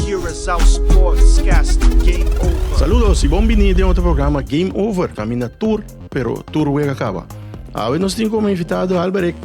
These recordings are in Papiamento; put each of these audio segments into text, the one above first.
Curaçao Sportscast Game Over. Saludos y bon bini den otro programa Game Over. Camina tur, pero tur wega caba. Awe nos tin como invitado Alberek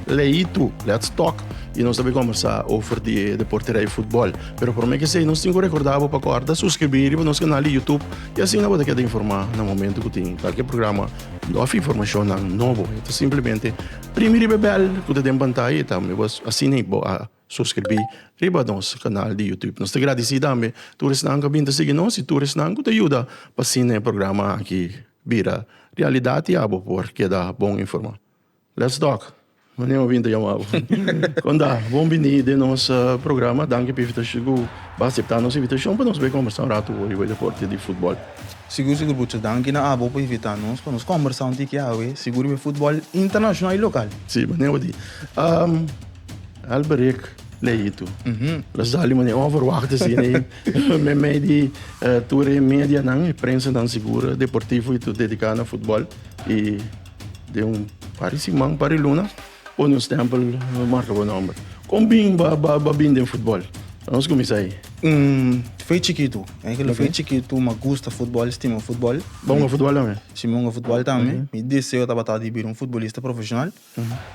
Leitu, Let's Talk, y nos tabi conversa over di deporte rij voetbal. Pero prome que sei, nos tin co recorda bo pa corda suscribir riba nos canal di YouTube y asina bo ta keda informa na momento cu tin calke programa of informacionnan nobo. Ta simplemente primi riba e bel cu ta den pantaya y tambe bo asina bo a Suscribí riba nos canal di YouTube. Nos ta gradicí tambe tur esnan cu a bin ta sigui nos y tur esnan cu ta yuda pa asina e programa aki bira realidad y abo por keda bon informá. Let's talk! Mane bo a bin ta yama bo? Konda, Bon bini den nos programa. Danki pa invitacion cu bo a acepta nos invitacion pa nos bay combersa un ratu riba e deporte di futbol. Sigur sigur, mucha danki na abo pa invita nos pa nos combersa un tiki awe sigur riba e futbol internacional y local. Sí, mane bo di. Alberik lei tu. La sali mane onverwachte sine i me me di eh, ture media nan, e prensa nan segura, deportivo i tu dedica na futbol. I de un pari siman, pari luna, pone un stempel, eh, marca bo nomber. Kon bin ba, ba, ba bin den futbol? Nos comienza ahí. Mm, fue chiquito. Hay que lo fue chiquito, me gusta fútbol, estima fútbol. Bongo futbol también. Si bongo fútbol también. Mi deseo tabata di bir un futbolista profesional.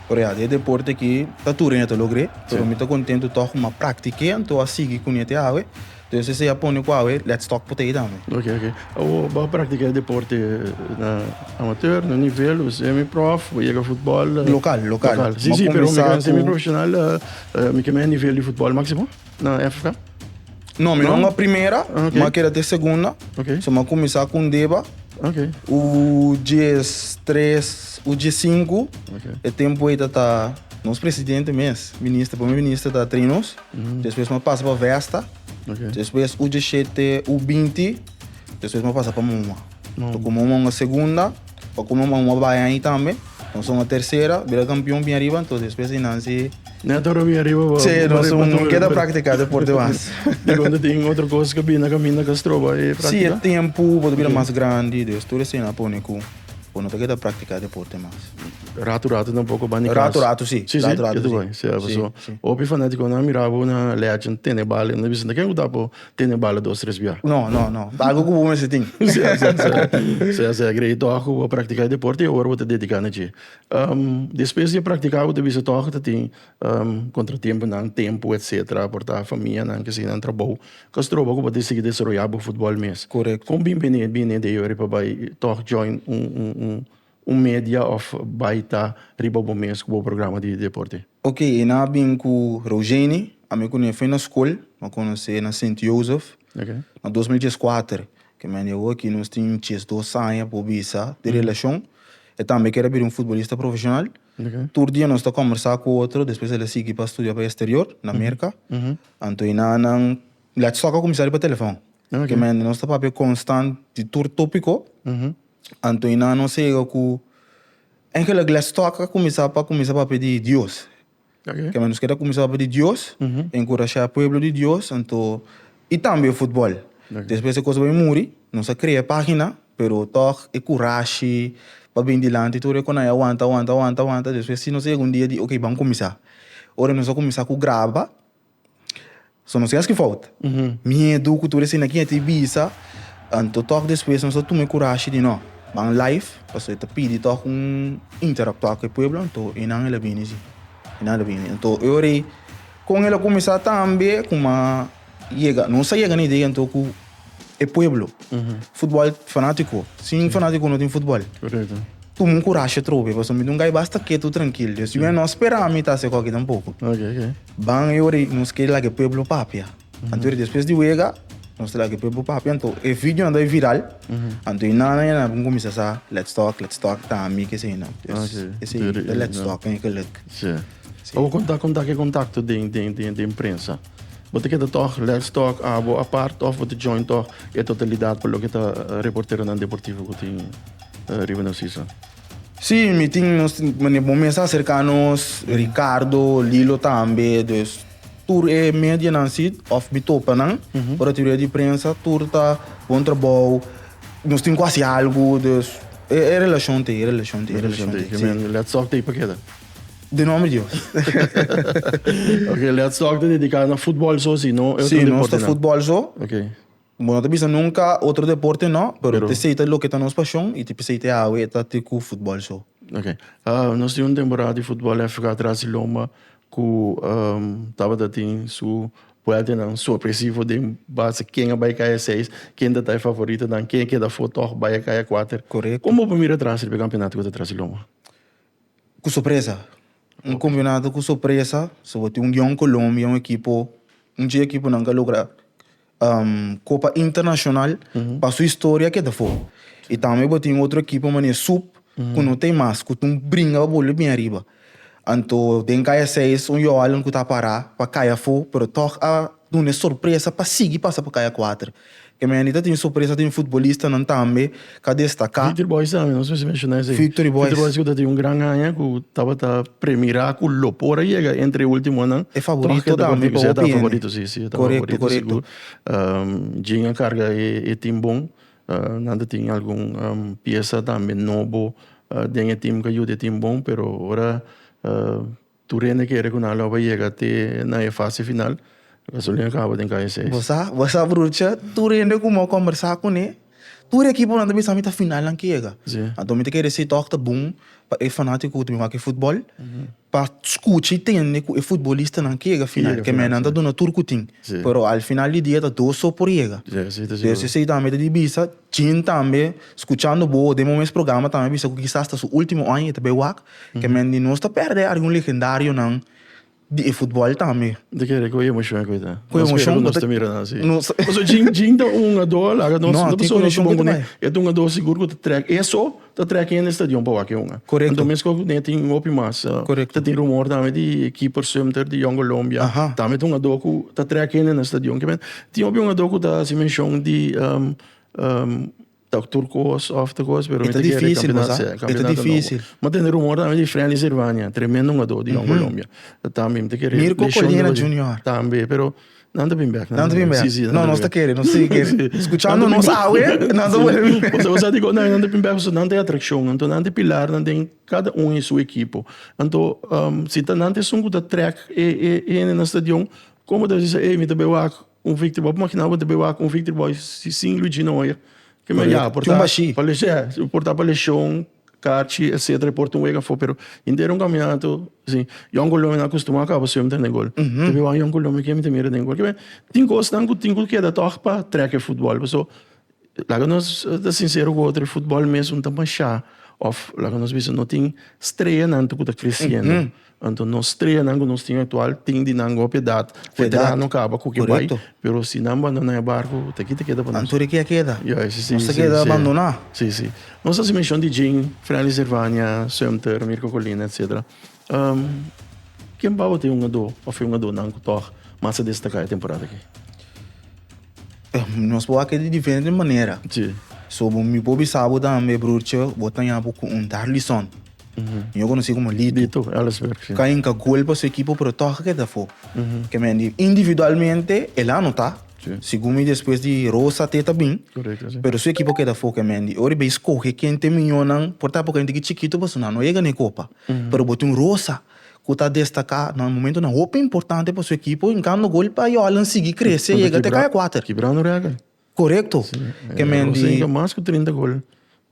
Por ya, e deporte aki ta tur aña ta logr'é, pero mi ta kontentu tòg kuma a praktik'é anto a sigui kuné te awe. Entonces sesa ya pone ku awe, lèt stòk pa tei tambe. Oke, oke. Awor bo a praktiká e deporte na amateur, na nivel o semi-prof, bo yega futbòl? Lokal, lokal. Lokal. Sí, sí, pero mi ta haña semi-profeshonal, mi ta haña nivel di futbòl máksimo. No, Efra? No, mi no honga primera, okay. ma keda te segunda. Okay. So ma kumisa kun deba. Okay. U jes tres, u jes cinco. Okay. E tempo eta ta nos presidente mes, minister, primer minister ta trinos. Mm -hmm. Después ma pasa pa Vesta. Okay. Después u jes sete, u binti. Después ma pasa pa Muma. To kume un onga segunda, pa kume un onga bai ahi tambe. Nos onga tercera, bira kampion bin ariba, entonces despues di nan si... Na toro bin ariba bo. Si, nos un keda praktika deporte mas. Di konta tin otro kos ku bina kaminda ku a stroba e praktika? Si, e tempu bo ta bira mas grandi, dus tur esei na pone ku bo no ta keda praktika deporte mas. Ratu ratu tampoko bai na e kas? Ratu ratu si. Si, si. Ratu ratu si. Hopi fanatikonan a mira bo na legend, tenebal, e nan a bisa, ken ku ta apo? Tene bala dos tres bia. No, no, no. Ta algu ku bo mester tin. Sea, sea, sea. Sea, sea. Grei tòg ku bo a praktiká e deporte i awor bo ta dediká na dje. Despues di a praktiká bo ta bisa tòg ta tin kontratempunan, tempu, etcetera, a portá famianan, ke sinan trabou. Ka stroba ku bo ta sigui desaroyá bo futbòl mes. Kon bin bini e bini dei ora i pa bai tòg join un, un, un. Un media of bai ta riba bo mes ku bo programa di deporte. Ok, e na bin ku Rougeni, ami ku Nefey na skol, no konos'é na Sint Jozef, Ok. na dos mil djes kuater. Kem'é andi awo aki nos tin djes dos aña por bisa di relashon. E tambe kere bira un futbolista profeshonal. Ok. Tur dia nos ta kòmbersá ku otro, despues el a sigui pa studia pa e esterior, na Merka. Anto e na nan lèt sòk a kuminsá riba telefòn. Ok. Kem'é andi nos ta papia konstant di tur tópiko. Anto i nan nos ega ku engelign la stòk a kuminsá pa kuminsá papia di Dios. Oke. Kende nos ke ta kuminsá papia di Dios, enkurashá pueblo di Dios, anto i tambe futbòl. Oke. Despues e kos bai muri, nos a krea e página, pero tòg e kurashi pa bini dilanti tur e konai a wanta, wanta, wanta, wanta, despues si nos ega un dia di oke, ban kuminsá. Ora nos a kuminsá ku graba. So nos yaski fout. Miedu ku tur esina kiña ta e bisa, anto tok despues nos a tuma e kurashi di no ban live, pasobra e ta pidi tok un interactua ku e pueblo, anto e nan el a bini si, e nan el a bini. Anto e ora ei kon el a kuminsá tambe kuma yega, nos a yega na idea anto ku e pueblo. Futbol fanatico. Sin sí. fanatico no tin futbol. Correcto. Tuma un coraje trobe, paso mi dungai basta quieto tranquilo. Dios, yo no espera mi ta se coque tampoco. Ok, ok. Ban yori nos que la que pueblo papia. Anto después de wega, nos la que pueblo papia, anto e video anda viral. Anto e nana ya na bun comienza sa let's talk, let's talk, ta mi que se na. Yes. Okay. Ese let's talk en que lek. Sí. Pa bo konta kon ta ke kontakto den den den den prensa. Bo ta keda tòg lèks tòg abo apart òf bo ta join tòg e totalidat pa loke ta reporteronan deportivo ku tin riba Narciso? Sí, mi tin nos tin manera bo mes a serká nos, Ricardo, Lilo tambe, dus tur e medianan sí òf mi topa nan, ora ta yu di prensa tur ta bon trabou, nos tin ku hasi algu, dus e e relashon ta ei, e relashon ta ei, e relashon ta ei, sí. Lèks tòg ta ei pa keda. De nomber Dios. okay, let's talk de dedicar na fútbol so, si no, sí, no está fútbol so. Okay. Bueno, te bisa nunca otro deporte no, pero, pero... te sei te lo que está nos pasión y te sei te hawe está te cu fútbol so. Okay. Uh, nos tiene un temporada de fútbol FK atrás de Loma cu um, tabata tin su vuelta nan sorpresivo de base quem vai cair seis, quem da tá favorito dan, quem queda for toch vai cair quatro. Correto. Como primeiro atrás de campeonato que atrás de Loma? Ku sorpresa. Un kampeonato ku sorpresa soba tin un dia un Colombia un ekipo un dje ekiponan ka logra kopa internashonal pa su historia a keda afo. I tambe bo tin otro ekipo manera Sup ku no ta mas ku ta un bringa pa bolbe bin ariba. Anto den kaya seis un yoalan ku ta para pa kaya afo pero tòg a. Duna e sorpresa pa sigui pasa pa kaya kuater. Kemendi ta tin sorpresa tin futbolistanan tambe ka destaka. Victory Boys tambe, nos mester menshoná esei. Victory Boys. Victory Boys ku ta tin un gran haña ku tabata premirá ku lo por a yega entre e últimonan. E favorito tambe pa hopi hende. Tòg e ta kontinua siendo e favorito, si, si, e ta favorito sigur. Korekto, korekto. Djin a karga e tim bon. Nan ta tin algun piesa tambe nobo den e tim ku a yuda e tim bon, pero ora. Tur hende kere ku nan lo bai yega te na e fase final. Gasolina kaba den kaya seis. Bo sa, bo sa brucha, tur hende ku mi a kombersá kuné, tur e ekiponan ta bisa mi ta final nan ke yega. Sí. Anto mi ta kere si tòg ta bon pa e fanátiko ku ta bin wak e futbòl pa skucha i tende ku e futbolistanan ke yega final, ke men nan ta duna tur ku tin. Sí. Pero al final di dia ta dos so por yega. Sí, esei ta Por esei tambe ta di bisa, Jin tambe, skuchando bo, den bo mes programa tambe a bisa ku kisas ta su último aña i ta bai wak, Kemen di nos ta perde algun legendarionan di e futbòl tambe. Di kere ku emoshion e ku e ta? Ku emoshion ku ta. Nos kere ku nos ta mira nan así. Nos. Pasobra Jin Jin ta un hugador, laga nos. No, tin konekshion ku ta bai. E ta un hugador sigur ku ta trèk eso ta trèk hende stadion pa wak e hunga. Korekto. Anto mi a skohe ku ne tin hopi mas. Korekto. Ta tin rumor tambe di e keeper Sumter di Young Colombia. Aha. Tambe ta un hugador ku ta trèk hende na stadion. Kemen tin hopi hungador ku ta hasi menshon di. Ta tur kos of ta kos pero mi ta kere campeonato si campeonato nobo. Mi a tende rumor tambe di Frenly Sirvania tremendo hungador di Jong Colombia ta tambe mi ta kere leshon di Colinia. Mir cu Colina Junior. Tambe pero nan ta bin bek nan ta bin bek. Si si nan ta bin bek. No nos ta kere nos sigue kere escuchando nos awe nan ta wor. Pasobra sa diko nan ta bin bek pasobra nan ta e atraccion anto nan ta e pilarnan den cada un e su ekipo anto si ta nan ta esun cu ta trek e hende na stadion como ta bisa ey mi ta be wak Un victory boy, p'mon kina bo ta wak un victory boy sin Luigi no oye? Ke men ya, por ta pa leshon, por ta pa leshon, kachi, etcetera, por ta un wega afo, pero hinter un kaminatu, si Yon Colome na kustumá kaba su hember den gol, ta wak Yon Colome ke mi ta mira den gol. Tin kosnan ku tin ku keda tòg pa trèk e futbòl, pasobra Laga nos ta sinsero ku otro, e futbòl mes un ta mashá òf laga nos bisa no tin streanan tu ku ta kresiendo. Anto nos streanan ku nos tin aktual tin di nan hopi edat, veterano no kaba ku ke bai, pero si nan bandoná e barku ta ki ta keda pa nos. Anto rikia keda. Ya, si, si, si, si, si. Nos ta keda bandoná. Si, si. Nos hasi menshon di Jing, Frenley Servania, Sumter, Mirko Colina, etcetera. Ken bouw tin un adó òf e un adónan ku tòg mas a destaká e temporada aki? Nos por wak e di diferente manera. Sí. So mi por bisa bo tambe, brurtje, bo ta yapo ku un dar lison. Mi a konosí komo Lito. Lito Ellersberg, sí. Ka hinka gol pa su ekipo, pero tòg akí ta afó. Ke men di individualmente el a anotá. Sí. Segun mi despues di Rosa te ta bin. Korekto, sí. Pero su ekipo ke ta afó, ke men di ora i bai skohe kente miñónan, por ta por kente ki chikito pasobra nan no a yega n'e kopa. pero bo tin Rosa cu ta destaca na momentonan hopi importante pa su ekipo encando gol pa Yolan sigui crece y yega te caya cuater. Kibra no rega. Corecto. Rosa yega mas cu trinta gol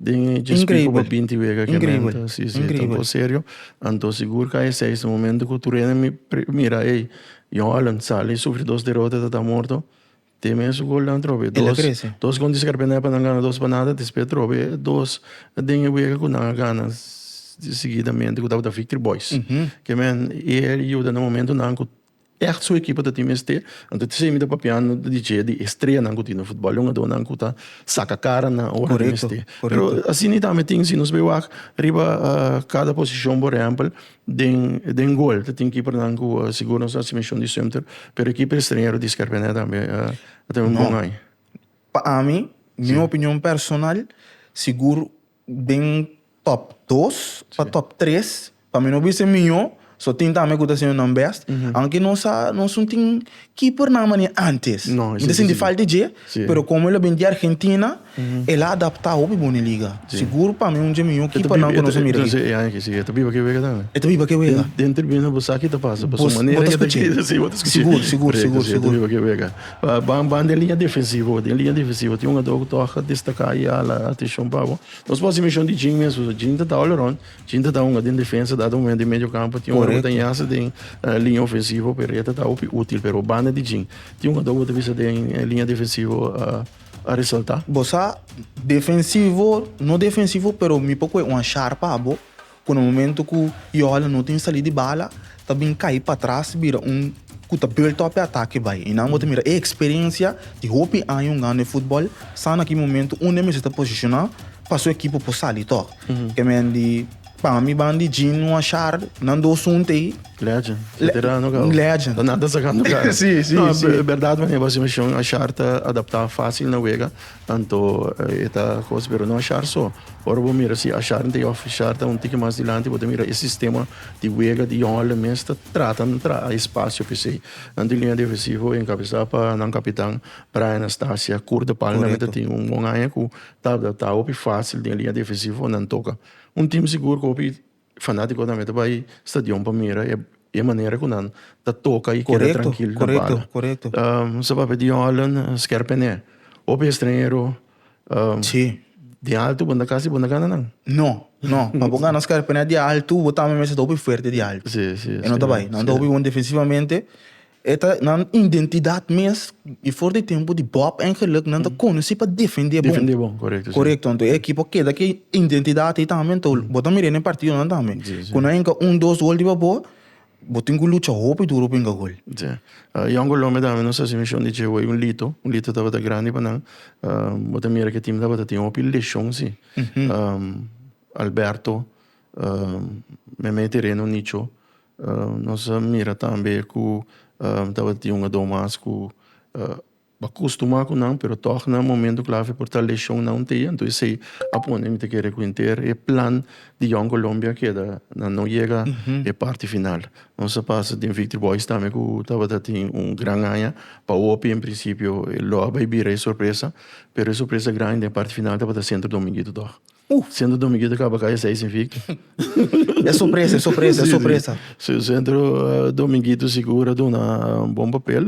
den e chespiko pa binti wega kemento. Si, si, ta un cosa serio. Anto sigur caya seis na momento cu tur ene mira ey Yolan sali sufri dos derota ta ta morto. Te mes gol nan trobe e dos dos con discar pena pa nan gana dos pa nada despues trobe e dos den e wega cu nan a gana seguidamente cu tabata victory boys uh -huh. que men e yuda na momento nan cu echt su equipo ta tin mes te anto te semi ta papiando di che di estrella nan cu tin na football jungador nan cu ta saca cara nan ora correcto, mes te correcto. pero asina tambe tin si nos bai wak riba uh, cada posicion por ehempel Den den gol ta tin kipernan ku sigur nos ta hasi mishon di swimter, pero e kiper estreñero di Scarpene tambe a tene un No. bon aña. Pa ami, mi Si. opinion personal, sigur den top dos pa Si. top tres, pa mi no bisa e mihó, so tin tambe ku ta hasiendo nan bèst, aunke nos a nos un tin Ki por nan mania antes. Mi ta sinti falta di dje, pero como el a bini di Argentina, el a adapta hopi bon e liga. Sigur pa mi un dje miho ki por nan cu nos a mira aki. E ta biba ki wega tambe? E ta biba ki wega. Den tribuna bo sa ki ta pasa, pasobra manera ki e ta gita, si, bo ta scuchi. Sigur, sigur, sigur, sigur. E ta biba ki wega. Ban, ban den liña defensivo bo. Den liña defensivo tin un hador cu toca destaca i hala atencion pa bo. Nos por hasi mencion di Jing mesmu. Jing ta tabal around. Chin ta ta hunga den defensa dado momento di medio campo tin hunga ta yasa den linea ofensivo Perea ta ta hopi util pero banda di chin tin hunga ta hopi bisa den linea defensivo a resalta. Bo sa defensivo no defensivo pero mi por koe un sharpa abo cu na momento cu y hala no tin sali di bala ta bin kai patras bira un cu ta built up e atake bay y nan bo ta mira e experiencia di hopi año hungando e football sa na ki momento un de mester ta posiciona pa su ekipo por sali tog ke men di pa mi ban di Gene wan Shar nan dos hunte ey Legend, veterano gao. Legend. Ta nada sacando cara. Sí, sí, No, sí. e berdad mane, Bastian Mishon a Shar ta adapta facil na wega. Tanto e ta cos pero no ashar so. Ora bo mira si ashar nta e office ashar ta un tiki mas dilanti bo ta mira e sistema di wega di yongelnan mes ta trata entra a espacio pesey. Nan di linea defensivo encabeza pa nan capitan Brian Astacia Curt de Palma nan mester tin un bon aña cu tabata ta hopi facil den e linea defensivo nan toca un team sigur cu hopi Fanatikonan me ta bai stadion pa mira e manera ku nan ta toka i keda trankil na banda. Mester sa papia di Holland sker pene. Hopi estranhero di altu bo ta kasi bo ta gana nan. No no pa bo gana sker pene di altu bo tambe mester ta hopi fuerte di altu. E no ta bai. Nan ta hopi bon defensivamente. E ta nan indentidat mes i for di tempu di Bob en Geluk nan ta konosí pa defendé bon. Defendé bon, korekto, si. Korekto, anto e ekipo keda ku e indentidat ei tambe. Anto bo ta mir'é na e partidonan tambe. Si, si. Ku nan hinka un, dos gol riba bo, bo tin ku lucha hopi duru pa hinka gol. Si. Yon Colombia tambe nos hasi mishon di dje wei un lito. Un lito tabata grandi pa nan. Bo ta mira ku e tim tabata tin hopi leshon, si. Alberto, Meme Tereno Nicho. Nos a mira tambe ku tabatin un ador mas ku a kustumá ku nan pero tòg na momentu klave por ta leshon na un tia anto esei a pone mi ta kere ku henter e plan di Young Colombia keda nan no yega e parti final. Nos a pasa den Victory Boys tambe ku tabata tin un gran haña pa hopi en prinsipio lo a bai bira e sorpresa pero e sorpresa grandi den parti final tabata Sentro Dominguito tòg. Uh! Sentro Dominguito ta caba caya seis sin fik. E sorpresa, e sorpresa, e sorpresa. Si, si. Sentro Dominguito sigur a duna un bon papel.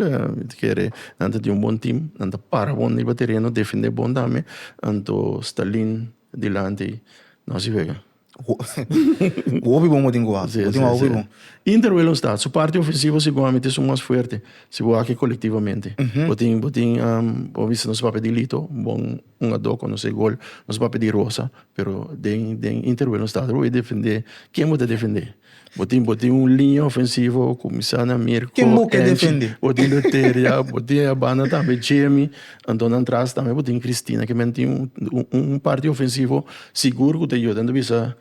Ta kere nan ta tin un bon tim. Nan ta para bon riba tereno, defende bon tambe. Anto Stalin dilanti no si wega. Hopi bon bo tin cu a. Si, si, si. Inter Whalen Staat, su parti ofensivo siguamente su mas fuerte si bo aki colectivamente. Bo tin, bo tin, bo bisa nos papia di Lito, bon. Un a do konosé gol nos papia di rosa pero den den interwil nos tabata bo e defendé ken bo ta defendé bo tin bo tin un liña ofensivo kuminsá na Mirko Ken bo ke defendé bo tin Beteria bo tin e banda tambe Djemi anto nan tras tambe bo tin Cristina ke men tin un parti ofensivo sigur ku ta yuda nan bisa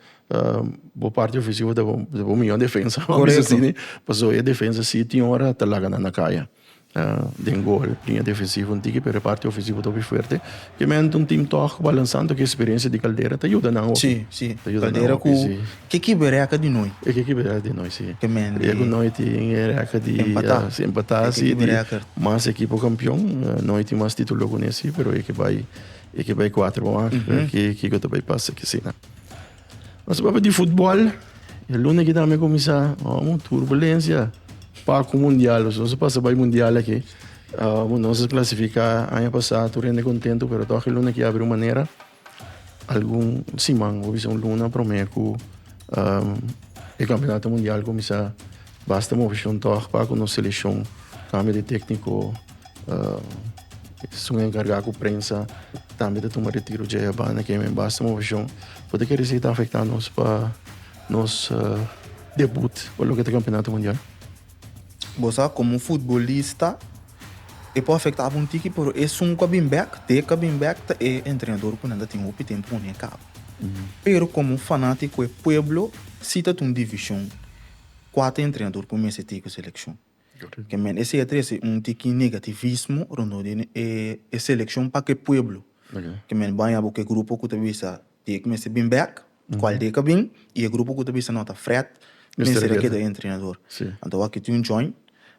bo parti ofensivo ta bo miyon defensa pasobra e defensa si tin ora ta laga nan na kaya. Den gol, liña defensivo un tiki pero e parti ofensivo ta hopi fuerte. Ke men ta un team tòg balansando ke eksperensia di Caldera ta yuda nan hopi. Sí, sí. Caldera ku ke kip e rèkòt di noi. E ke kip e rèkòt di noi, sí. Ke men di. E ku noi tin e rèkòt di. Empatá. Sí, empatá sí. E ke kip e rèkòt. Di mas ekipo kampion. Noi tin mas titulo ku nesei pero e ke bai e ke bai kuater bo mak. Kiko ta bai pasa akí, sí. Nos a papia di futbòl. E luna aki tambe a kuminsá unu turbulensia. Paku mundial, nos a pasa bai mundial aki. Nos a klasifiká aña pasá, tur hende kontentu, pero tok e luna aki a habri un manera, algun siman, bo bisa un luna promé ku e kampionato mundial a kuminsá. Basta movishon tòg pa ku nos selekshon kambia di tekniko. Esun a enkargá ku prensa tambe ta tuma retiro dje ya banda ke men basta movishon. Pudi kere si ta afektá nos pa nos debut pa loke ta Kampionato Mundial. Bo sa komo futbolista e por afektá bo un tiki pero esun ku a bin bèk, te ku a bin bèk ta e entrenador ku nan ta tin hopi tempu ku nan e kaba. Pero komo fanátiko e pueblo si ta tuma divishon. Kua ta entrenador ku mester tin ku selekshon? Ke men esei a trese un tiki negativismo rondó di e selekshon pa ke pueblo. Ke men baña bo ku e grupo ku ta bisa di e ku mester bin bèk, kual di e ka bin, i e grupo ku ta bisa no ta frèt, mester a keda entrenador. Anto aki tin un djòin,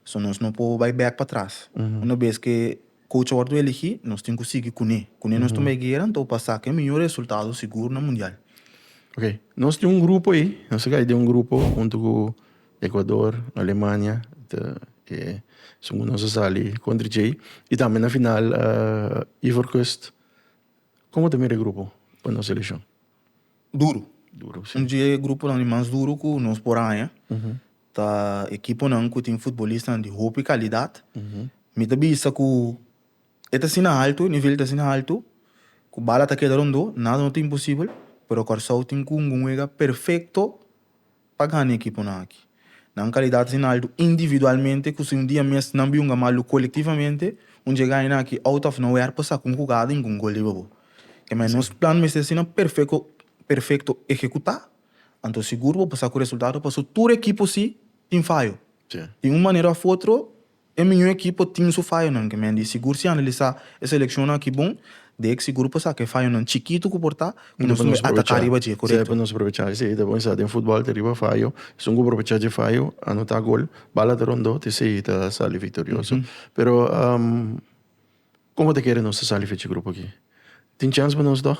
so nos no por bai bèk patras. Una bes ke. Coach a wordo eligi, nos tin cu sigui cune. Cune nos tuma e guera, anto pa saca e mijo resultado sigur na Mundial. Ok, nos tin un grupo ey, nos a gai den un grupo hunto cu Ecuador, Alemania, ta e esun cu nos a sali contra djey, y tambe na final Ivoorkust. Como ta mira e grupo pa nos seleccion? Duro. Duro, si. Un di e gruponan di mas duro cu nos por haña. Ta ekiponan ku tin futbolistanan di hopi kalidat. Mi ta bisa ku e ta asina altu, e nivel ta asina altu, ku bala ta keda rondó, nada no ta imposibel, pero Kòrsou tin ku ungun wega perfekto pa gana e ekiponan aki. Nan kalidat ta asina altu individualmente ku si un dia mes nan biunga malu kolektivamente, un dje gaina aki out of nowhere por saka un hugada i ku un gol riba bo. Kemei, nos plan mester asina perfekto ekekutá Anto sigur bo por sa cu resultado pasobra tur ekipo si tin fayo. Di un manera of otro e miño ekipo tin su fayonan ke men di. Sigur si analisa e seleccionnan aki bon dek sigur por saca e fayonan chikito cu por ta cu nos tin ataca riba dje. Correcto. Dje pa nos aprovecha esey e ta bon sa den futbal ta riba fayo. Esun cu por aprovecha dje fayo anota gol bala ta rondo ta esey ta sali victorioso. Pero como ta kere nos ta sali fecha grupo aki? Tin chance pa nos toch?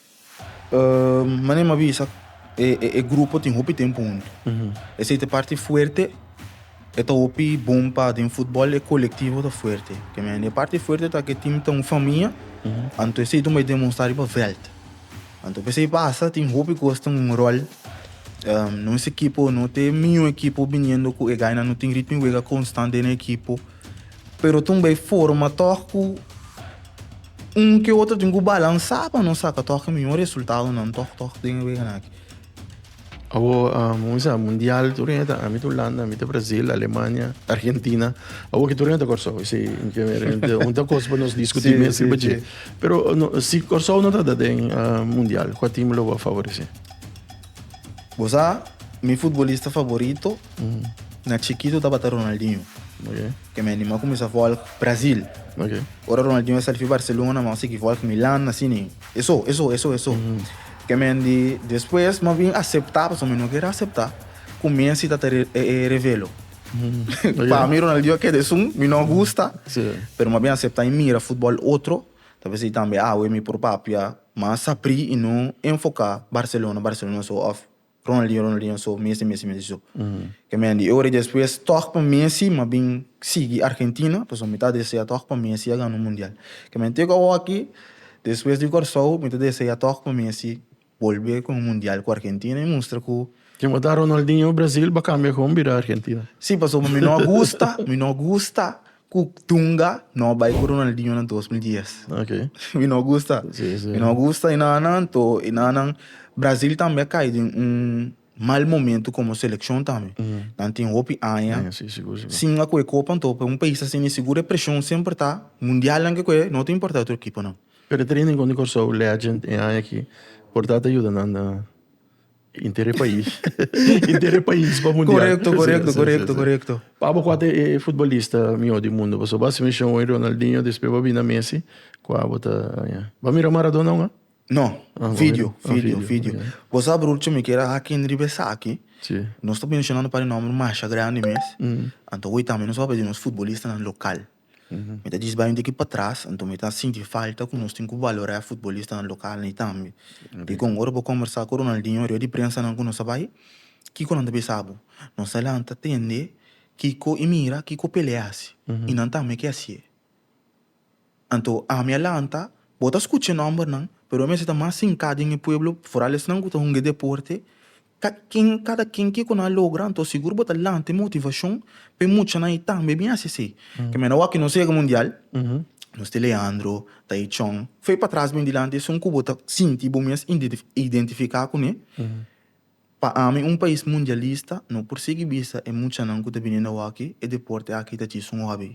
Manera m'ha bisa e grupo tin hopi tempu huntu. Esei ta e parti fuerte, e ta hopi bon pa den futbol, e kolektivo ta fuerte. Ke men, e parti fuerte ta ku e tim ta un famia, anto esei ta un bai demonstrá riba vèlt. Anto p'esei pasa tin hopi kos tin un ròl. Nos ekipo no ta e miño ekipo biniendo ku e gainan, no tin ritmi wega konstant den e ekipo, pero ta un bai forma tòg ku. un ku otro tin ku balansá pa nos saka tòg e mihó resultadonan tòg tòg den e weganan aki. Awor, um, mi sa, mundial tur hende ta ami ta Ulanda, ami ta Brasil, Alemania, Argentina. Awor ki tur hende ta Kòrsou. I si un ta kos pa nos diskutí mes riba dje. Pero si Kòrsou no ta da den mundial, kua tim lo a favoresé? Bo sa, mi futbolista favorito na chikitu tabata Ronaldinho. Ke mi anima kuminsá vòl Brazil. Ok. Ora Ronaldinho a sali fi Barcelona, mi a sigui vòl Milan, así ni. Eso, eso, eso, eso. Ke men di despues mi a bin aseptá, pasobra mi no ker a aseptá ku Messi ta ta revelo. Pa mi Ronaldinho a keda esun, mi no a gusta, pero mi a bin aseptá i mira futbòl otro, ta bisa i tambe awe mi por papia mas aprì i no enfoká Barcelona, Barcelona so òf Ronaldinho Ronaldinho so Messi Messi Messi so ke mi a di e ora despues tòg pa Messi mi a bin sigui Argentina pasobra mi ta desea tòg pa Messi a gana un mundial ke mi a tega awo aki despues di Kòrsou mi ta desea tòg pa Messi bolbe ku un mundial ku Argentina i mustra ku Tin ku ta Ronaldinho Brazil bo a kambia kon bira Argentina? Si pasobra mi no a gusta mi no a gusta. Cu tunga no bay cu Ronaldinho na dos mil dies. Ok. Mi no gusta. Sí, sí. Mi no gusta y nada nan to y nada nan. Brasil tambe a cae den un mal momento como seleccion tambe. Nan tin hopi aña. Aña, sí, sigur, sigur. Sin a coge copa anto pa un pais asina y sigur e presion semper ta. Mundialnan ke coge no ta importa otro ekiponan. Pero e training con di Corsou legend e aña aki por ta ta yuda nan na. Inter e pais. Inter e pais pa mundial. Korekto, korekto, korekto, korekto. Pabo kua ta e futbolista mihó di mundu? Pasobra bo a hasi menshon oin Ronaldinho, despues bo a bini na Messi. Kua bo ta haña? Bo a mira Maradona aún? No. Video, video, video. Bo sa brorcho mi keda hakin riba esaki? Si. Nos ta menshonando un par di nòmber masha grandi mes. Anto hoy tambe nos a papia di nos futbolistanan lokal. Mi ta djis bai un tiki patras, anto mi ta sinti falta ku nos tin ku balorá e futbolistanan lokalnan ei tambe. Dikon? Ora bo kombersá ku Ronaldinho riba di prensanan ku nos a bai, kiko nan ta bisa bo? Nan sa lanta tende kiko i mira, kiko Pelé a hasi, i nan tambe ke hasié. Anto, ami a lanta, bo ta skucha e nòmbernan, pero bo mester ta mas hinká den e pueblo, foral esnan ku ta hunga e deporte, Kada kin, kada kin kiko nan a logra, anto sigur bo ta lanta e motivacion pa e muchanan i tambe bin haci así. Ke men awor, ke nos a yega Mundial, nos tin Leandro, Taichon, fe patras bin dilanti, esun ku bo ta sinti bo mes identifica kuné. Pa ami un pais mundialista no por sigui bisa e muchanan ku ta bini na awor aki, e deporte aki ta djis un hobby.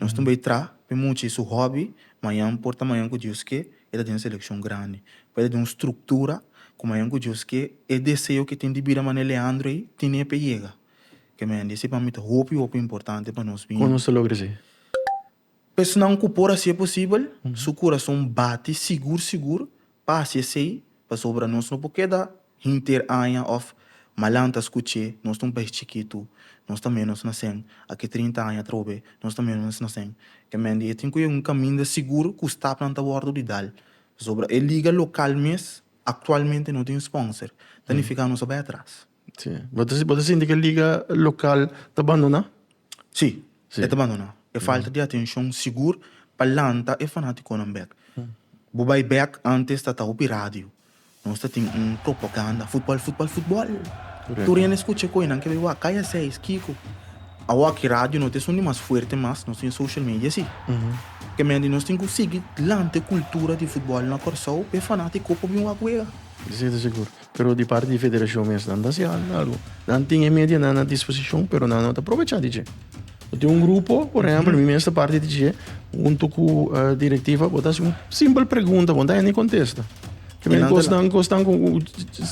Nos tin bay tra mi muchi su hobby mañan por ta mañan cu Dios ke e ta den seleccion grandi pa e ta den un structura cu mañan cu Dios ke e deseo ke tin di bida mane Leandro ay tine pe yega ke mañan di esi pa mi ta hopi hopi importante pa nos bini. Con nos ta logra esi? Pesnan ku por hasié posibel, su kurason bati sigur sigur pa hasi esei, pasobra nos no por keda henter aña òf malan ta skuch'é, nos ta un pes chikitu, nos ta ménos nasén, aki trinta aña atrobe, nos ta ménos nasén. Kèmen di e tin ku yega un kaminda sigur ku stapnan ta wòrdu di dal, pasobra e liga lokal mes aktualmente no tin spònser, ta nifiká nos a bai atras. Sí. Bo ta, bo ta sinti ke liga lokal ta bandoná? Sí, Sí. e ta bandoná. E falta di atenshon sigur pa lanta e fanátikonan bèk. Bo bai bèk, ántes ta ta hopi radio. Nos ta tin un propaganda, futbòl, futbòl, futbòl. Tur hende skucha e koenan ke bai wak, kaya seis, kiko. Awo aki radio no ta esun di mas fuerte mas, nos tin e social media sí. Ke mende nos tin ku sigui lanta e kultura di futbòl na Kòrsou, p'e fanátiko por bin wak wega. Di sete sigur. Pero di parti di federashon mes nan ta hasi algu. Nan tin e medianan na disposishon pero nan no ta aprovechá di dje. Bo tin un grupo, por ehèmpel mi mes ta parti di dje, huntu ku direktiva, bo ta hasi un simpel pregunta, bo no ta hende kontesta. Te mira kosnan ku esnan ku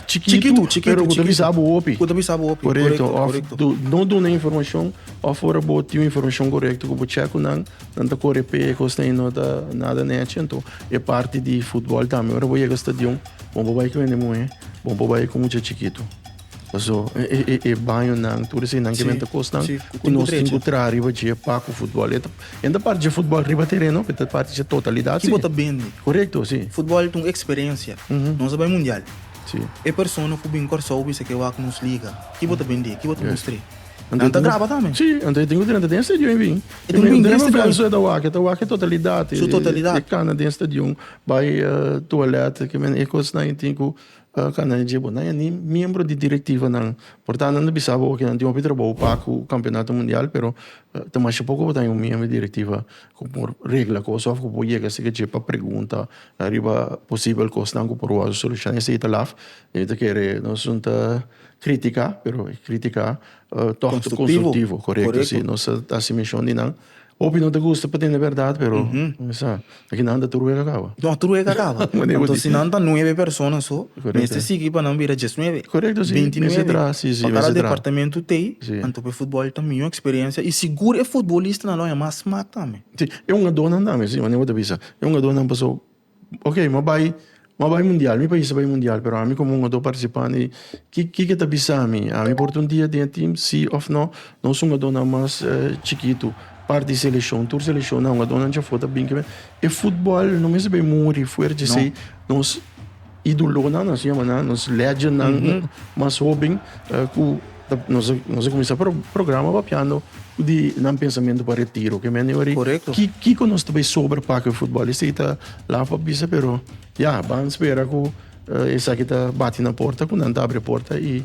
chikitu pero ku ta bisa bo hopi. Ku ta bisa bo hopi, korekto. Korekto, òf bo no duna informashon òf ora bo tin un informashon korekto ku bo chèk ku nan, nan ta kore p'e kosnan i no ta nada nèchi. Anto e parti di futbòl tambe ora bo yega stadion. Bon por bai ku hende muhé, bon por bai ku mucha chikitu. Paso e bañonan, tur eseinan ke menta kosnan ku nos tin ku traha riba dje pa ku futbòl. E no ta parti dje futbòl riba tereno, pero e ta parti dje totalidat. Ki bo ta bende. Korekto, si. Futbòl ta un eksperensia. Nos a bai mundial. E persona ku bin Kòrsou bisa ke wak nos liga. Ki bo ta bende? Ki bo ta mustr'é? Nan ta graba tambe. Si, anto e tin ku drenta den e stadion i bin. E tin ku bin den e stadion. Su totalidad e kana den e stadion. Bai toalèt ke men e kosnan i tin ku kanda e dje bo nan ya ni miembro di direktivanan por tantu nan ta bisa bo ke nan tin hopi trabou pa ku kampeonato mundial pero ta masha poko bo ta un miembro di direktiva ku por regla kos òf ku por yega si ke dje pa pregunta ariba posibel kosnan ku por wòrdu solushoná esei ta laf e ta kere nos junta kritika pero e kritika tòg ta konstruktivo korekto si nos ta hasi menshon di nan. Hopi no ta gusta pa tende berdad, pero mi sa aki nan ta tur wega kaba. No, tur wega kaba. Anto si nan ta nuebe persona so, mester sigui pa nan bira djes nuebe, binti nuebe. Pa kada departamentu t'ei, anto pa e futbol ta miyo eksperensia i sigur e futbolistanan lo haña mas smak tambe. Si, e hungadonan tambe, si, manier bo ta bisa. E hungadonan pasobra Ok, mi a bai, mi a bai mundial, mi pais a bai mundial, pero ami komo un otro partisipante, ki ki ke ta bisa mi? Ami por ta un dia den e tim, si òf nò? Nos hungadónan mas chikitu, parti di seleshon, tur seleshonnan, hungadónan djafó ta bin. E futbòl no mester bai muri fuerte esei, nos. Idolonan así llama nan, nos legendnan mm -hmm. mas hoben uh, cu nos nos comienza pro, programa papiando di nan pensamiento para retiro que men ori correcto ki ki con nos tabe sobre paque fútbol este ita la pa bisa pero ya yeah, van espera cu uh, eh, esa que ta bate na porta cu nan ta abre porta y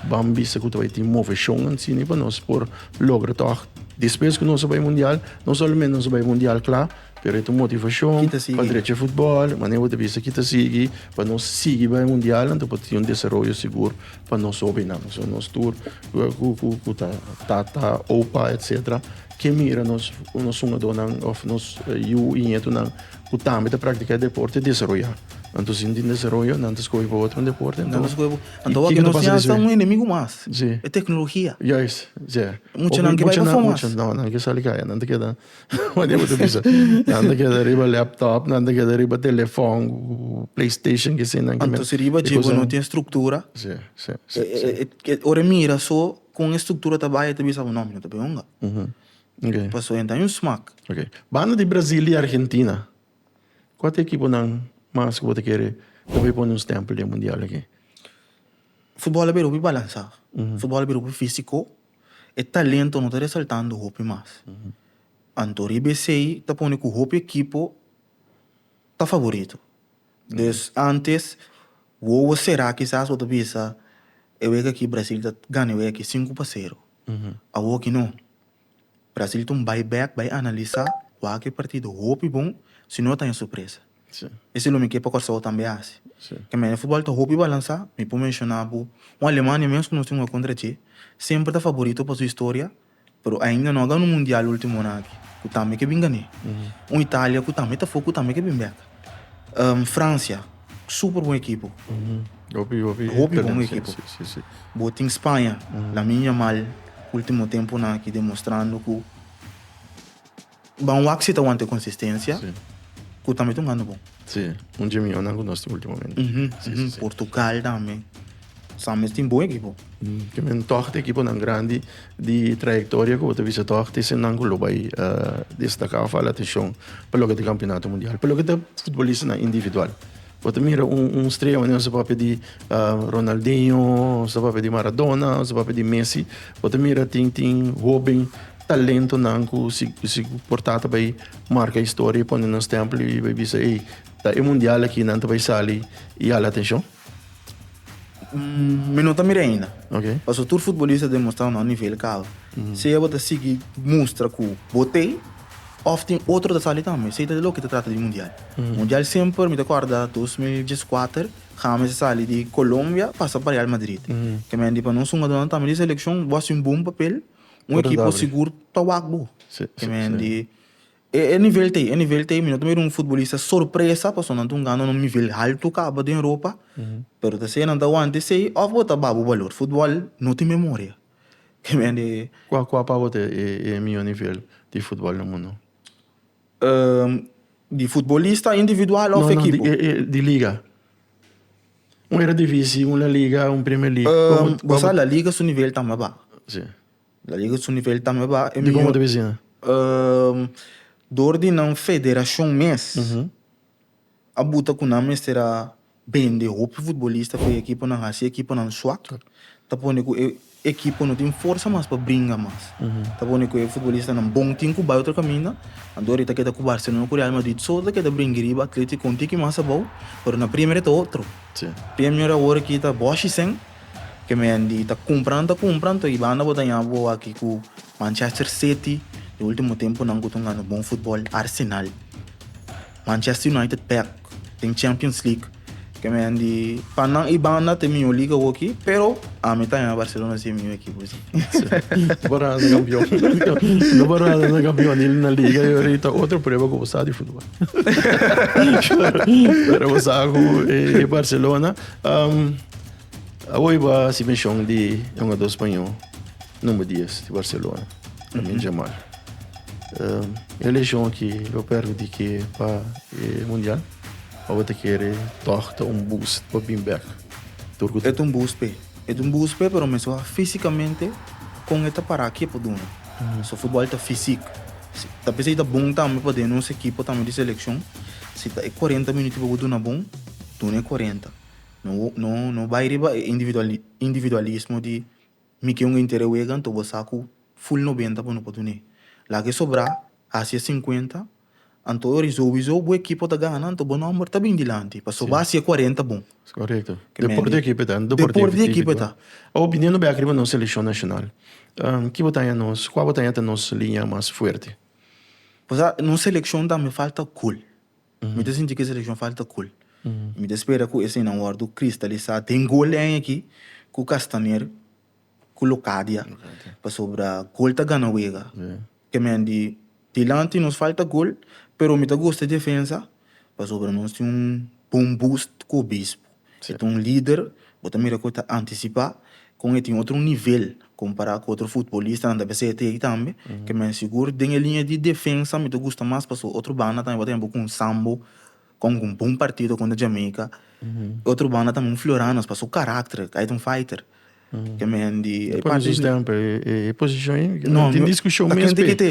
van bisa cu tabe tin moveción en cine para nos por logra toch después que nos bay mundial no solamente nos bay mundial claro Pero e ta un motivashon pa drecha e futbòl. Manera bo ta bisa aki ta sigui pa nos sigui bai e mundialnan ta por tin un desaroyo sigur pa nos hobennan. So nos tur ku ta tata, opa etcetera ke mira nos hungadónan òf nos yu i ñetunan ku tambe ta praktiká e deporte desaroyá. Anto si no tin desaroyo nan ta skohe pa otro un deporte. Anto nan ta skohe pa otro un deporte. Anto nos ya ta un enemigu mas, e teknologia. Juist, si. Muchanan ke bai pa fo mas. Muchanan ke sali kaya nan ta keda. What they would bisa. Nan te keda riba laptop, nan te keda riba telefon, PlayStation, que sin nan que Anto si riba jibo no tiene estructura. Sí, sí, sí. E, e, ore mira so con estructura ta baya te bisa no, mi no te beonga. Mhm. Okay. Paso enta un smak. Okay. Banda di Brazil y Argentina. Wat equipo nan mas que bote kere hopi pone un stempel di mundial aquí? Football a bira hopi balansa. Football a bira hopi físico. E talento no ta resaltando hopi mas. Anto riba esei ta pone ku hopi ekipo ta favorito. Dus antes wowo será kisas bo ta bisa e wek aki Brasil ta gana e wek aki sinku pa sero. Awoki no. Brasil ta un bai bèk, bai analisá, wak e partido hopi bon, si no ta haña sorpresa. Esei lo mi ke pa Kòrsou tambe hasi. Kaminda e futbòl ta hopi balansá, mi por menshona bo un Alemania mesun ku nos tin un hoi kontra dje, semper ta favorito pa su historia, pero ainda no a gana un mundial e ultimonan aki, ku tambe ke bin gan'é. Un Italia ku tambe ta for, ku tambe ke bin bèk. Fransia, super bon ekipo. Hopi bon ekipo. Bo tin Spaña, Lamine Yamal, ultimo tempunan aki demostrando ku. Ban wak si ta wanta e konsistensia ku tambe ta un handa bon. Si, un dje mió nan ku nos tin ultimamente. Portugal tambe sa mes tin bon ekipo. Ke men tòg ta ekiponan grandi di trayektoria ku bo ta bisa tòg ta esennan ku lo bai destaká òf hala atenshon pa loke ta kampionato mundial. Pa loke ta futbolistanan individual. Bo ta mira un strella manera su papia di Ronaldinho, su papia di Maradona, su papia di Messi, bo ta mira tin tin hoben talentonan ku si si por tata bai marka historia i pone nan stempel i bai bisa ei ta e mundial aki nan ta bai sali i hala atenshon? Mi no ta mira ainda. Okay. Paso tur futbolista a demostrá un nivel ku alto. Sea bo ta sigui mustra ku bo t'e. Of tin otro ta sali tambe. Esey ta di loke ta trata di mundial. Mundial semper mi ta corda dos mil dieskuater James a sali di Colombia pasa pa Real Madrid. Kemen di pa nos hungadornan tambe di seleccion bo haci un bon papel un ekipo sigur ta wak bo. Kemen di e nivel ta ey, e nivel ta ey mi no ta mira un futbolista sorpresa pasobra nan tun gana un nivel halto caba den Europa pero ta ser nan ta wanta esey of bo ta ba bo balor. Football no tin memoria. Kua kua pa bo ta e mihó nivel di futbòl na mundu? Di futbolista individual òf ekipo? No no di liga. Un eredivisi, un laliga, un premier league. Bo sa laliga su nivel ta mas baha. Si. Laliga su nivel ta mas baha. Di kon bo ta bisina? Dor di nan federashon mes. a buta cu nan mester a bende hopi futbolista pa e ekiponan haci e ekiponan swak, ta pone cu e ekipo no tin forsa mas pa bringa mas. Ta pone cu e futbolistanan bon tin cu bai otro caminda, anto awor e ta keda cu Barcelona cu Real Madrid so ta keda bringa riba Atletico un tiki mas abou, pero na Premier ta otro. Premier awor aki ta boshicen, ke men di ta cumpran ta cumpran, to e banda bo ta yaha bo aki cu Manchester City, e ultimo temponan cu ta gana bon futbol, Arsenal. Manchester United bek den Champions League ke men di pa nan i banda te mihó liga hoki pero ami ta yaña Barcelona si e mihó ekipo si. No por hasa kampion no por hasa kampionil na liga yo ri ta otro prueba ku bo sa di futbol pero bo sa ku e Barcelona um awoy bo hasi menshon di e hungadó spañó Number dies di Barcelona, Lamine Yamal. E lesion aki lo permiti ke pa e mundial. Awe ta kere tòg ta un boost pa bin bèk tur ku ta. E ta un boost p'e. E ta un boost p'e pero mester wak físikamente kon e ta para ke por duna. So futbòl ta físik. Ta bisa i ta bon tambe pa den nos ekipo tambe di selekshon. Si ta e kuarenta minuti bo bo duna bon, duna e kuarenta. No no no bai riba e individual individualismo di. Mi ke un intere wegan to bo sa ku full nobenta bo no por dun'é. Laga e sobrá, hasi e sinkuenta, anto ora i souizou bo ekipo ta gana anto bo nòmber ta bin dilanti pa soba hasi e kuarenta bon. Es korekto. Deporte ekipo e ta, deporte di ekipo e ta. Awo biniendo bek riba nos selekshon nashonal, ki bo ta haña nos, kua bo ta haña ta nos liña mas fuerte? Pasobra nos selekshon tambe falta gol. Mi ta sinti ku e selekshon falta gol i mi ta spera ku esayinan wòrdu kristalisá den gol den aki ku Kastamer ku Locadia pasobra gol ta gana wega. Te men di dilanti nos falta gol pero mi ta gusta e defensa pasobra nos tin un bon boost ku obispo. Si ta un lider bo ta mira cu e ta anticipa, con e tin otro nivel compara cu otro futbolistanan ta bisa e ta ey tambe, ke men sigur den e liña di defensa mi ta gusta mas pasobra otro banda tambe bo ta hende un Sambo con un bon partido contra Jamaica, otro banda tambe un Florianos pasobra su caracter, ey ta un fighter. Ke mi hen di... E pon Jesus tem pe e posishon ei? No, tin diskushon mes pe. Takin tikite.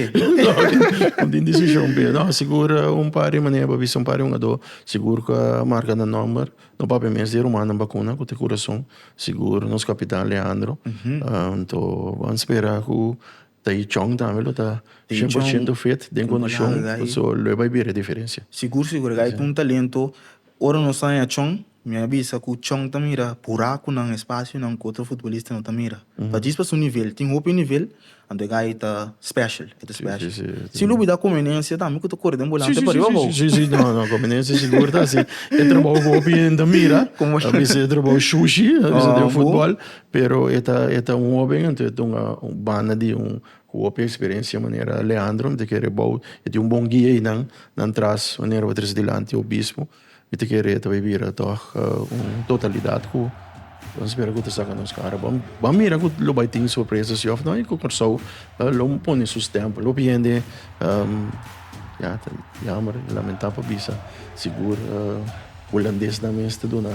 No tin diskushon pe. No, sigur un par di manera pa bisa un par di hungadó sigur ku a marka nan nòmber. No papia mes di rumannan bakuna ku ta kurason. Sigur nos kapitan Leandro. Anto bo a spera ku Ta i chong tambe lo ta shen por shento fit den kondishon paso lo e bai bira e diferensia. Sigur sigur e ka bai ku un talento ora nos ta haña chong mi a bisa ku chong ta mira burakunan espasionan ku otro futbolista no ta mira pa djis pa su nivel tin hopi nivel anto e gai ta special e ta special si lo bai da komenensia tambe ku ta kore den bolante pariba bo si si no komenensia sigur ta si e trabou ku hopi hende ta mira a bisa e trabou shushi a bisa den futbol Pero e ta e ta un hoben, anto e ta un un banda di un ku hopi eksperensia manera Leandro, mi ta kere e bou e tin un bon guia i nan nan tras manera bo ta trese dilanti obispo, mi ta kere e ta bai bira tòg un totalidat ku nos spera ku ta saka nos kara. Bo bo mira ku lo bai tin sorpresa si òf no i ku Kòrsou lo pone su stèmpel. Hopi hende ya ta yammer i lamentá pa bisa sigur hulandes nan mes ta duna.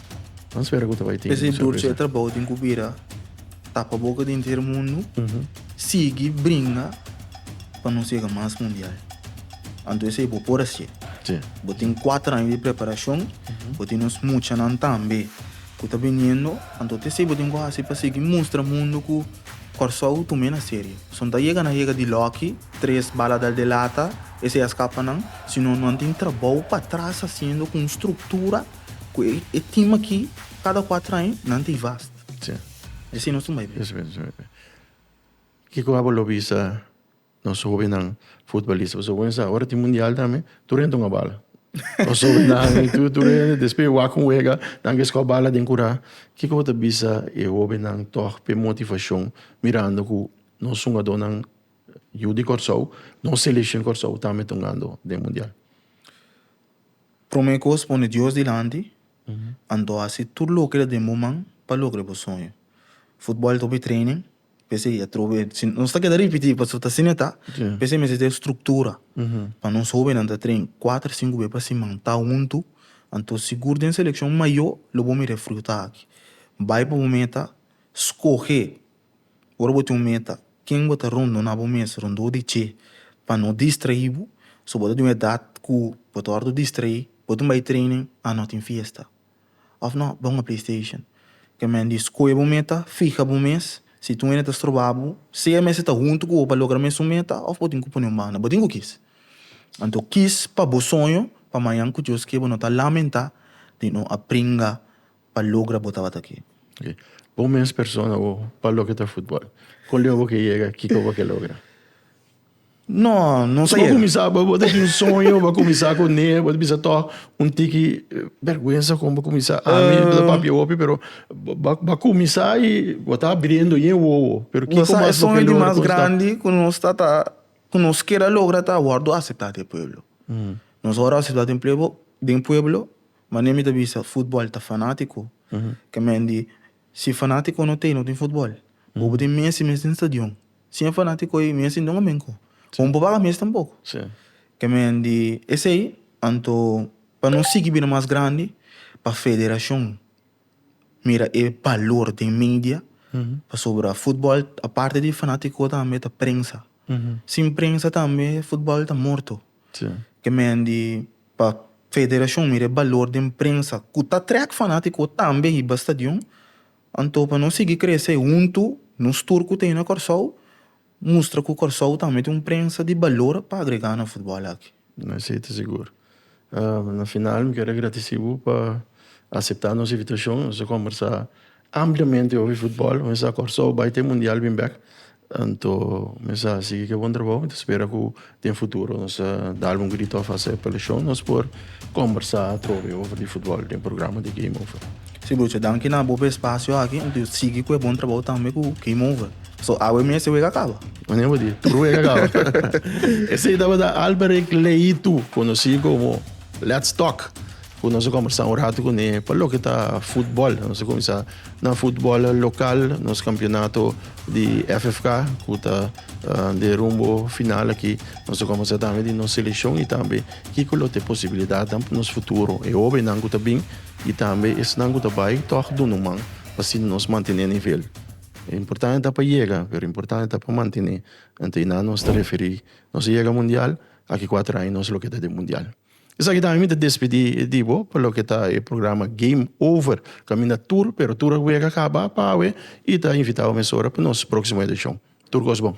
Vamos ver ku ta bai tin. Ese durche e trabou tin ku bira tapa boka di inter mundu. Mm -hmm. Sigi bringa pa nos yega mas mundial. Anto ese bo por asie. Sí. Bo tin kuater aña di preparashon, mm -hmm. bo tin nos muchanan tambe ku ta biniendo, anto te ese bo tin ku hasi pa sigi mustra mundu ku Kòrsou tum'é na serio. Son ta yega nan yega di lòki, tres bala dal de lata, ese a skapa nan, sino nan tin trabou pa tras hasiendo ku un struktura. Ku e e tim aki kada kuater aña nan ta i vast. Si. Di asina nos ta bai bien. Kiko abo lo bisa nos hobennan futbolista? Pasobra bo mester sa ora tin mundial tambe tur hende ta wak bala. Nos hobennan i tur tur hende despues wak ku wega nan ke skop bala den kura. Kiko bo ta bisa e hobennan tog pa e motivashon mirando ku nos hungadónan yu di Kòrsou, nos seleshon Kòrsou tambe ta hungando den mundial? Prome kos pone Dios dilanti, anto hasi tur loke ta den bo man pa logra bo soño. Futbol ta hopi training, p'esei e atrobe, si nos ta keda ripití pasobra ta asina e ta, p'esei mester ta e struktura pa nos hobennan ta train kuater, sinku be pa siman, ta huntu, anto sigur den selekshon mayó lo bo mira e fruta aki. Bai pa bo meta, skohe. Ora bo tin un meta, ken bo ta rondona bo mes rondó di dje pa no distraíbo? So bo ta den un edat ku bo ta hòrdu distraí, bo tin bai training and no tin fiesta? Òf no, bai hunga playstation. Ke men di skohe bo meta, fiha bo mes, si tin un hende ta stroba bo, sea e mester ta huntu ku bo pa logra mesun meta òf bo tin ku pone un banda, bo tin ku kis. Anto kis pa bo soño pa mañan ku Dios ke bo no ta lamentá di no a pringa pa logra bo tabata aki. Ok, bon mes persona bo pa loke ta futbol. Kon leu bo ke yega, kiko bo ke logra? No, no sa yega. Bo kuminsá, bo bo ta tin un soño, bo a kuminsá kuné, bo ta bisa tò un tiki bèrgwensa kon bo kuminsá. Ami bo ta papia hopi pero bo bo a kuminsá i bo ta abriendo ñe wowo. Pero kiko mas bo ke logra konstá? Bo sa e soño di mas grandi ku nos ta ta ku nos keda logra ta wòrdu aseptá den pueblo. Nos wòrdu aseptá den den pueblo Mane mi ta bisa futbol ta fanatico ke men di si fanatico no t'ey no tin futbol. Bo bo tin Messi mes den stadion sin e fanatico ey Messi no a men cu bo no por baga mes tampoco. Ke men di esey anto pa nos sigui bini mas grandi pa federacion mira e balor den media pasobra futbol a parte di fanatico tambe ta prensa sin prensa tambe futbol ta morto ke men di. Pa federashon mira e balor den prensa ku ta trèk fanátiko tambe hiba stadion. Anto pa nos sigui kresé huntu, nos tur ku ta e na Kòrsou, mustra ku Kòrsou tambe ta un prensa di balor pa agregá na futbòl aki. Sí, ta sigur. Na final mi ker a gratisí bo pa aseptá nos invitashon. Nos a kòmbersá Ampliamente hopi futbòl. Mi sa Kòrsou bai t'e mundial bin bèk. Anto mi sa sigui ku e bon trabou. Mi ta spera ku den futuro nos ta dal un grito a fase pa el shon. Nos por kombersá atrobe over di futbòl den programa di Game Over. Si brocha, danki na bo pa e spasio aki. Anto yu sigui ku e bon trabou tambe ku Game Over. So awe mes e wega kaba? Manera bo di, tur wega kaba. Esei tabata Alberic Leitu, konosí komo Let's Talk. Cu nos a combersa un rato cune pa loke ta futbol. Nos a cuminsa na futbol local, nos campeonato di FFK, cu ta de rumbo final aki. Nos a combersa tambe di nos seleccion y tambe kico lo ta e posibilidadnan pa nos futuro. E hobennan cu ta bin y tambe esnan cu ta bay tog duna un man pa asina nos mantene nivel. Importante ta pa yega, pero importante ta pa mantene. Enta y nan nos ta referi nos a yega mundial, aki cuatro aña nos loke ta den mundial. Esaki tambe mi ta despedí di bo pa loke ta e programa Game Over. Kaminda tur, pero tur a wega kaba pa awe i ta invitá bo mesora pa nos próksimo edishon. Tur kos bon.